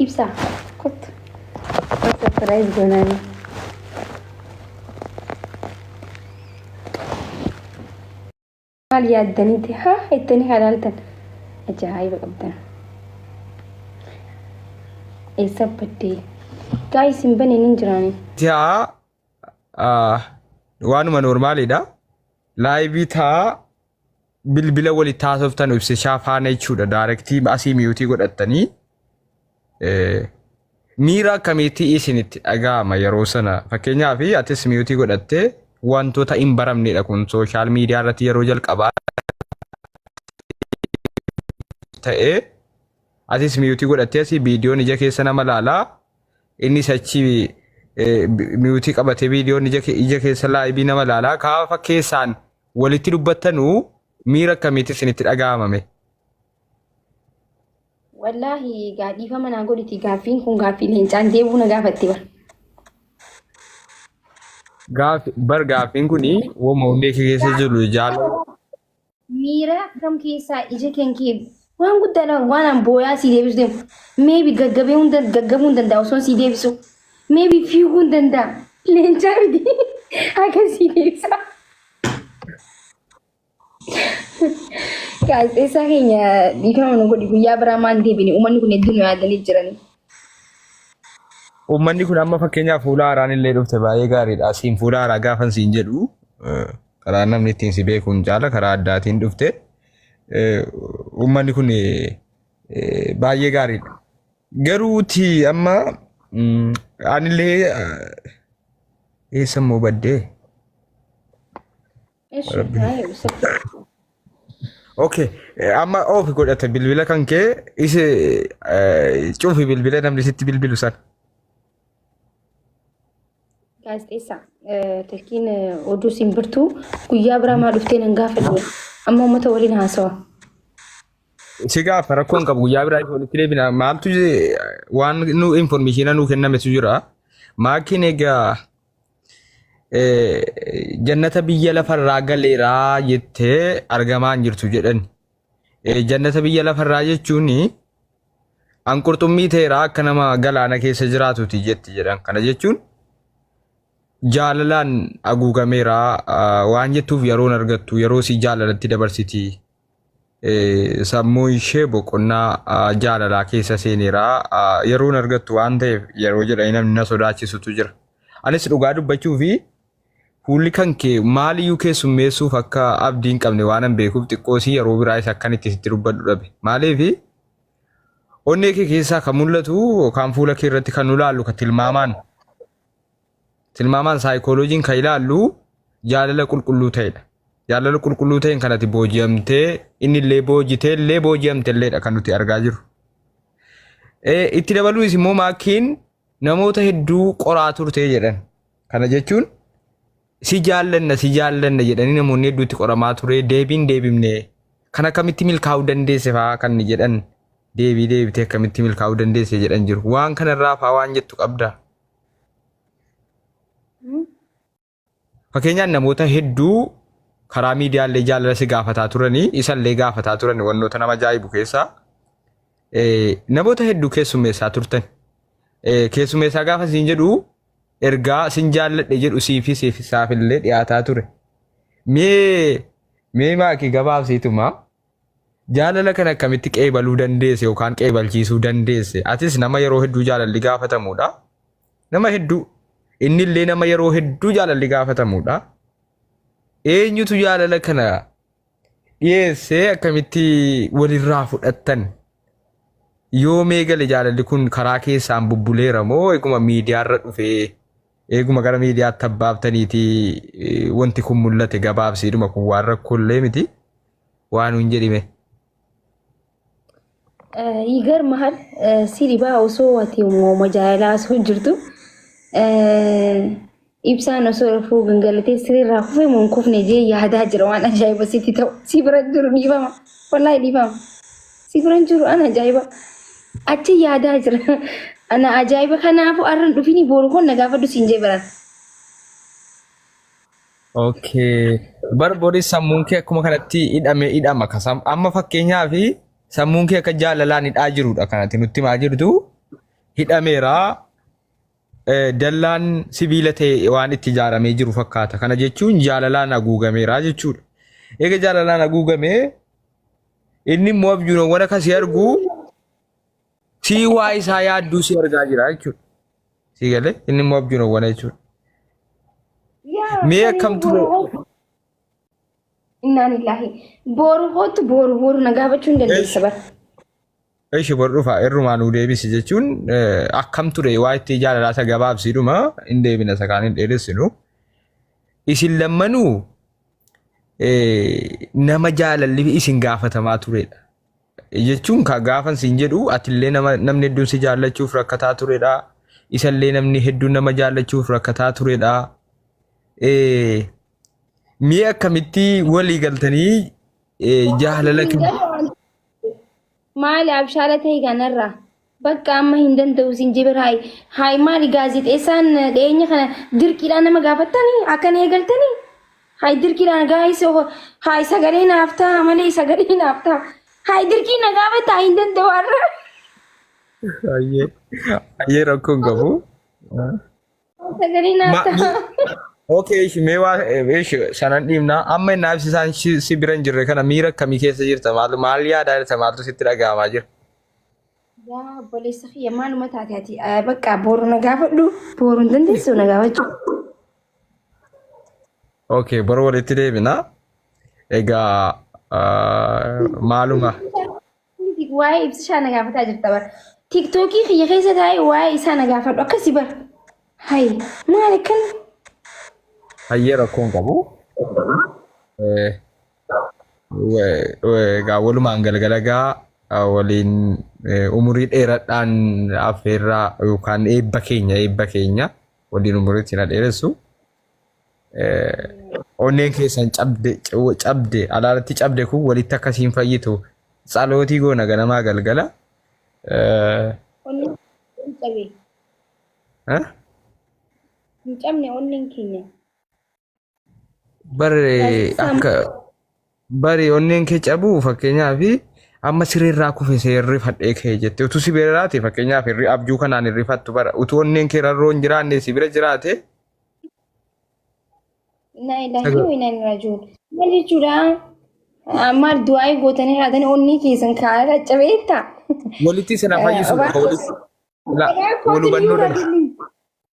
Ibsa. Kottu. Subscribe goonaan. Maal yaaddaniiti haa ittanii halaaltan. Ajaa'iba qabdan. Eessa baddee? Gaayis hin baneen hin jiraanii. Taa ah, waanuma noormaaliidha. Laayivii taa bilbila walitti haasoftan ibsishaa faana jechuudha. Daarektii asii miyuutii godhattanii eh, miira akkamiitti isinitti dhaga'ama yeroo sana fakkeenyaaf atis miyuutii godhattee wantoota hin baramnedha kun sooshaal miidiyaa irratti yeroo jalqabaa ta'ee atis miyuutii godhattee asii viidiyoon ija keessa nama laalaa innis achi eh, bi- miyuutii qabatee viidiyoon ija ke- ija keessa laayibii nama laalaa kaafa keessaan walitti dubbattanu miira akkamiitti isinitti dhaga'amame? Wallaahi gaadhiifama naa godhiti gaaffiin kun gaaffii leencaan deebuu na gaafatte bara. Gaaf- Bar gaaffiin kun woma hundee kee keessa jiru jaalala Miira akkam keessaa ija keen kee Waan guddaa dha waan an booyaa sii deebisu deemu. Meebi gaggabee hunda gaggabuu hin danda'a osoo sii deebisu. Meebi fiiguu hin danda'a. Leencaa miti akka sii deebisa. Gaazexeessaa keenya dhiifama nu godhi guyyaa biraa maan deebine uummanni kun hedduu nu yaadanii jiranii. Uummanni kun amma fakkeenyaaf fuula haaraan illee dhufte baay'ee gaariidha. Asiin fuula haaraa gaafan siin jedhu eh, karaa namni ittiin si beekuun caala karaa addaatiin dhufte. Uummanni kun baay'ee gaariidha. Garuuti amma anillee eessa immoo baddee? Okay, amma oofi godhate bilbila kan kee isi cufi bilbila namni sitti bilbilu sana. Gaazexeessaa Tilkiin oduu simbirtuu guyyaa biraa maa dhuftee nan gaafadhu amma uummata waliin haasawa. Si gaafa rakkoon qabu guyyaa biraa ifa walitti deebina maaltu je- waan nu informeeshina nuu kennametu jira. Maakiin egaa eh, jannata biyya lafarraa galeeraa jettee argamaa hin jirtu jedhani. Eh, Jannata biyya lafarraa jechuun An qurxummii teeraa akka nama galaana keessa jiraatuti jetti jedhan. Kana jechuun jaalalaan haguugameera ah, waan jettuuf yeroon argattu yeroo si jaalalatti dabarsiti. Eh, Sammuun ishee boqonnaa ah, jaalalaa keessa seeneera. Ah, Yeroon argattu waan ta'eef yeroo jedhanii namni na sodaachisutu jira. Anis dhugaa dubbachuu fi Fuulli kan kee maaliyyuu keessummeessuuf akka abdii hin qabne waanan beekuuf xiqqoosii yeroo biraayis akkan itti sitti dubbadhu dhabe. Maaliif onnee kee keessaa kan mul'atu yookaan fuula kee irratti kan nu laallu kan tilmaamaan tilmaamaan saayikooloojiin kan ilaallu jaalala qulqulluu ta'edha. Jaalala qulqulluu ta'een kan ati booji'amtee inni illee boojitee illee booji'amte illeedha kan nuti argaa jirru. Eh, Itti dabaluunis immoo maakiin namoota hedduu qoraa turte jedhan. Kana jechuun si jaallanna si jaallanna jedhanii namoonni hedduutti qoramaa ture deebiin deebimne kan akkamitti milkaa'uu dandeesse fa'aa kan ni jedhan deebii deebitee akkamitti milkaa'uu dandeesse jedhan jiru. Waan kanarraa fa'aa waan jettu qabda. Fakkeenyaan namoota hedduu karaa miidiyaallee jaalala si gaafataa turanii isallee gaafataa turan wantoota nama ajaa'ibu keessaa eh, namoota hedduu keessummeessaa turtan. Eh, Keessummeessaa gaafa siin jedhu ergaa sin jaalladhe jedhu siifi siifi isaafillee dhiyaataa ture. Mee mee maakii gabaabsiituma Jaalala kana akkamitti qeebaluu dandeesse yookaan qeebalchiisuu dandeesse? Atis nama yeroo hedduu jaalalli gaafatamuudha. Nama hedduu. Inni illee nama yeroo hedduu jaalalli gaafatamuudha. Eenyutu jaalala kana dhiyeessee akkamitti walirraa fudhattan? Yoomee gale jaalalli kun karaa keessaan bubbuleera moo eguma miidiyaarra dhufee Eeguma gara miidiyaatti abbaaftaniiti wanti kun mul'ate gabaabsiidhuma kun waan rakkoollee miti waan hin jedhime. Yigar mahal si dhibaa osoo ati uumama jaalalaa osoo jirtu ibsaan osoo rafuu gangalatee sirriirraa kufee moo hin kufne jee yaadaa jira waan ajaa'iba sitti ta'u si bira jiru dhiifama wallahi dhiifama. Si biran jiru an ajaa'iba. Achi yaadaa jira. Ana ajaa'iba kanaafu arran dhufini booru kun na gaafadhu siin jee baran. Okay. Bar boris sammuun kee akkuma kanatti hidhame hidhama ka sam- amma fakkeenyaa fi sammuun kee akka jaalalaan hidhaa jirudha kanatti nutti himaa jirtu hidhameera eh, dallaan sibiila ta'e waan itti ijaaramee jiru fakkaata kana jechuun jaalalaan haguugameera jechuudha. Eega jaalalaan haguugamee Inni immoo abjuunowwan akka si argu sii waa isaa yaadduu si argaa jira jechuudha. Sii galee inni immoo abjuunowwan jechuudha. Yaa Mee sanii akkam ture? boru hoo- Innaan illaahi. Boru hootu boru boru na gaafachuu hin dandeessa bara. Ishi bor dhufa irrumaa nuu deebisi jechuun akkam ture waa itti jaalalaa isa gabaabsiidhuma hin deebina isa kaan hin dheeressinu. Isin lammanuu nama jaalalli isin gaafatamaa turedha. Jechuun ka gaafan siin jedhu atillee nama namni hedduun si jaallachuuf rakkataa turedha. Isallee namni hedduun nama jaallachuuf rakkataa turedha. Mi'a akkamitti walii galtanii jaalala kennu? Maali abshaala tahi kanarraa. Bakka amma hin danda'u sin jibir haay haay maali gaazexeessaan dhiyeenya kana dirqiidhaan nama gaafattanii akkan eegaltanii haay dirqiidhaan gaayis haay sagalee naaf ta'a malee sagalee naaf ta'a haay dirqii na gaafatta hin danda'u har'a. Ayyee ayyee rakkoon qabu. Sagalee naaf Ma- ta'a. Okay, ishi mee waa ishi sanan dhiibna. Amma inni ibsisaan si si bira hin jirre kana miira akkamii keessa jirta? Maal maal yaadaa jirta? Maaltu sitti dhaga'amaa jira? Yaa obboleessa kiyya maaluma taate ati Eh, bakka booru na gaafadhu booru hin dandeessu na gaafachuu. Okay, bara walitti deebina. Egaa ah, maaluma Waa'ee ibsishaa na gaafataa jirta bara. Tiktookii kiyya keessa taa'ee waa'ee isaa na gaafadhu akkasi bara. Hayi maal akkana? Hayyee rakkoo hin qabu. Eh, we- we- Egaa walumaan galgala gaa eh, waliin eh, umurii dheeradhaan affeerraa yookaan eebba keenya eebba keenya waliin umuriitti na dheeressu. onneen keessan cabde cabde alaalatti cabde kun walitti akkasiin fayyitu tsalootii goona ganamaa galgala. Onneen hin cabe. Eh? Hin cabne onneen keenya. Barre akka Bari onneen kee cabuu fakkeenyaaf amma siree irraa kufe see rifadhee kee jette utuu si bira jiraate fakkeenyaaf irri abjuu kanaan hin rifattu bara utuu onneen kee rarroo hin jiraanne si bira jiraate Inna ilaahi Sagal. wa inna ilaihi raaji'uun. Maal jechuudha? Ah, Maal du'aa'ii gootanii raatanii onnee keessan kaa'aa caccabeetta? walitti isin haa fayyisu Eh, walitti la- wal hubannoo dhala.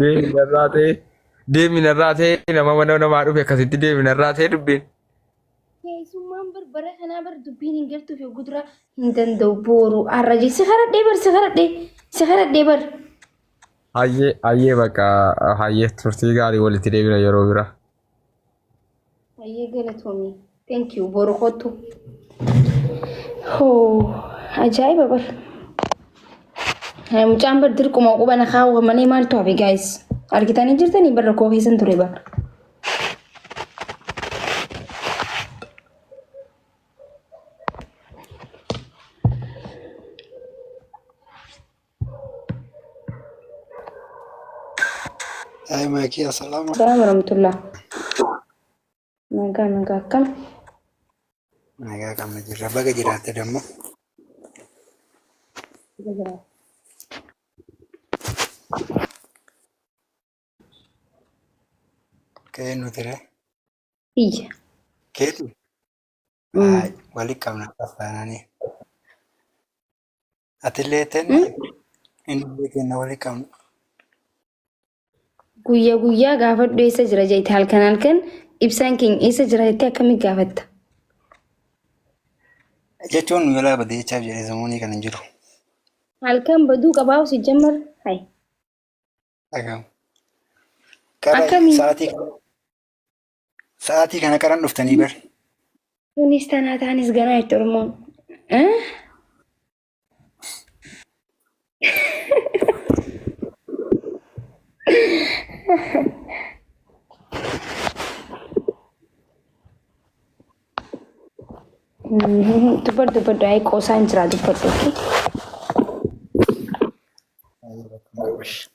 Deemi narraa ta'e. Deemi narraa ta'e nama mana namaa dhufe akkasitti deemi narraa ta'e dubbiin. Keessummaan bar bara kanaa bar dubbiin hin galtuuf yoo guduraa hin danda'u booru har'a jee si karadhee bar si karadhee si karadhee bar. Hayyee hayyee bakka hayyee turtii gaarii walitti deebina yeroo biraa. Ayyee galatoomi. Thank you. Boru kottu. Hoo ajaa'iba bar. Mucaan bar dirquma quba na kaawwamanii maaltu hafe guys. Argitanii jirtanii bar rakkoo keessan ture bar. Ay maakii asalaama. Salaam warahmatullah. Nagaa nagaa akkam? Nagaa qabna jirra. Baga jiraatte dammoo. Nagaa jira. Ka'ee nuti ree. Iyya. Keetu. Mm. Ay walitti qabna afaananii. Atillee tenna innillee tenna wali qabna. Guyya guyyaa gaafadhu eessa jira jette halkan halkan ibsaan keenya eessa jira jettee akkamitti gaafatta? Jechuun nu jalaa badee jechaaf jedhee samuunii kan hin jiru. Halkan baduu qabaa si jammar. Hai. Dhagahamu. Akkami? Sa'aatii Sa'aatii kana qaran dhuftanii bar. Kunis tanaa taanis ganaa itti Oromoon. Eh? Dubbadhu dubbadhu ayii qoosaa hin jiraa dubbadhu. okay? Baay'ee rakkoon qabu.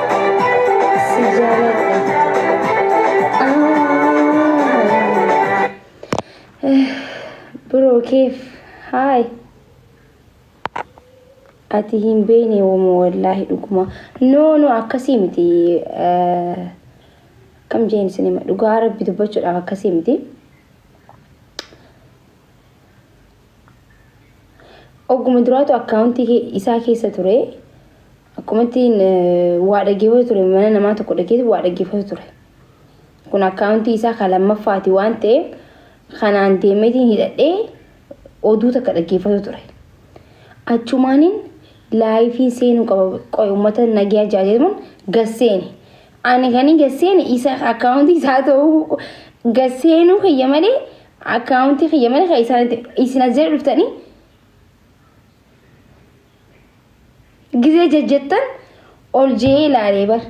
Bro keef haay ati hin beekne woma wallaahi dhuguma no no akkasii miti kam jeen sinima dhugaa rabbi dubbachuudhaaf akkasii miti Ogguma duraatu akkaawuntii isaa keessa ture. Akkuma ittiin waa dhaggeeffatu ture mana namaa tokko dhageetu waa dhaggeeffatu ture. Kun akkaawuntii isaa kan lammaffaati waan ta'eef kanaan deemeetiin hidhadhee oduu takka dhaggeeffatu ture. Achumaaniin laayifiin seenuu qaba qoy uummata nagaa jaajeemuun gasseeni. Ani kan hin gasseeni isa akkaawuntii isaa ta'uu gasseenuu kiyya malee Akkaawuntii kiyya mana keessanitti isin as jala dhuftanii gizee jajjattan ol je'ee ilaalee bar.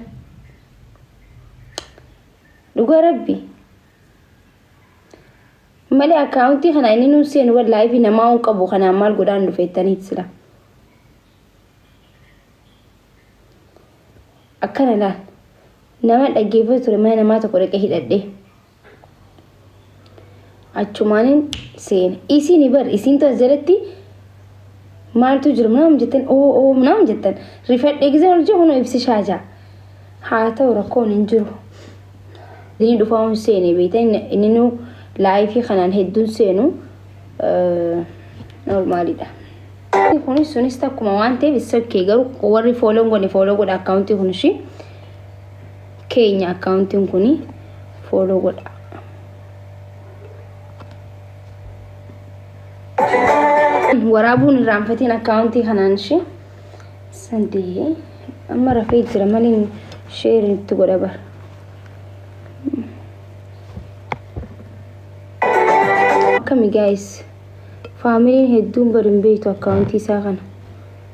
Dhugaa rabbi. Malee akkaawuntii kana inni nuun seenu wallaahi fi namaa hin qabu kanaan maal godhaan dhufeettaniit sila. Akkana laal. Nama dhaggeeffatu ture mana namaa tokko dhaqee hidhadhee. achumaanin seene isiin bar isiin tas jalatti maaltu jira naam jettan oo oo naam jettan rifadhe gizee ol jiru kunoo ibsishaa jaa haa ta'u rakkoon hin jiru inni dhufaa hin seene beekta inni nu laayifii kanaan hedduun seenu noormaalidha. Kunis sunis takkuma waan ta'eef isa kee garuu warri fooloo godhe fooloo godha akkaawuntii kun ishii. keenya akkaawuntiin kun fooloo godha. Waraabuun irraanfatiin akkaawuntii kanaan ishee sadii amma rafee jira maliin sheerii itti godha bara. Akkami gaayis faamiliin hedduun bari hin beektu akkaawuntii isaa kana.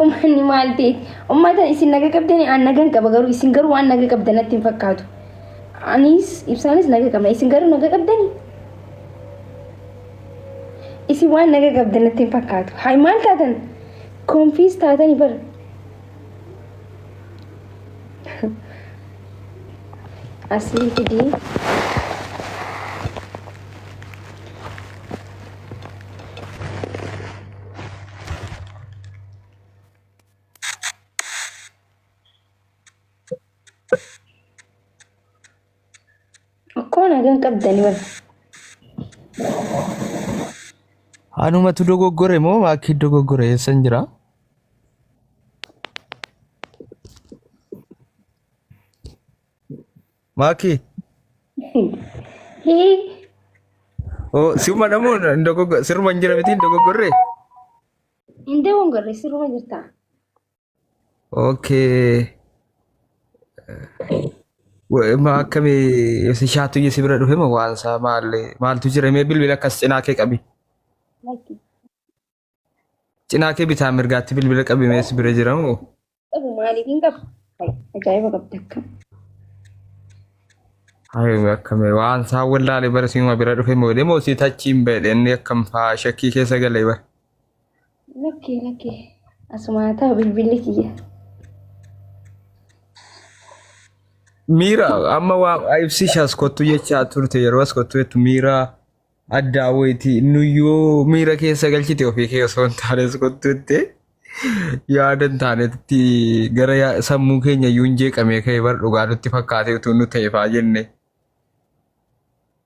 Uummanni maal ta'e? Uummata isin naga qabdanii aan nagan qaba garuu isin garuu waan naga qabdan natti hin fakkaatu. Anis ibsaanis naga qabna isin garuu naga qabdanii? Isin waan naga qabdan natti hin fakkaatu. Hay maal taatan? Konfiis taatanii bar. Asii fidii. Akkoo nagaan qabdanii bara. Anumatu dogoggore moo maakkii dogoggore eessan jira? Maakii. Hii. Oo siuma namuu hin dogoggorre siruma hin jira miti hin dogoggorre. Hin dogoggorre siruma jirta. Okay. Ma akkamii si shaatu si bira dhufe ma waan isaa maal maaltu jira mee bilbila akkas cinaa kee qabi. Lakki. Cinaa kee bitaa mirgaatti bilbila qabimee si bira jira moo? Qabu maaliif hin qabu? Ajaa'iba qabda akka. Hayi akkame waan isaa wallaale bara siima bira dhufe moo demoo si tachiin beedhe inni akkam faa shakkii keessa galee bara. Lakkee lakkee asumaa ta'a bilbilli kiyya. Miira amma waa ibsi ishaas kottu jechaa turte yeroo as kottu jettu miira Addaa wayiiti nuyyuu miira keessa galchite ofii kee osoo hin taanes kottuutti yaada hin taanetti gara yaa- sammuu keenya iyyuu hin jeeqamee ka'e bar dhugaa nutti fakkaatee utuu nu ta'eefaa jenne.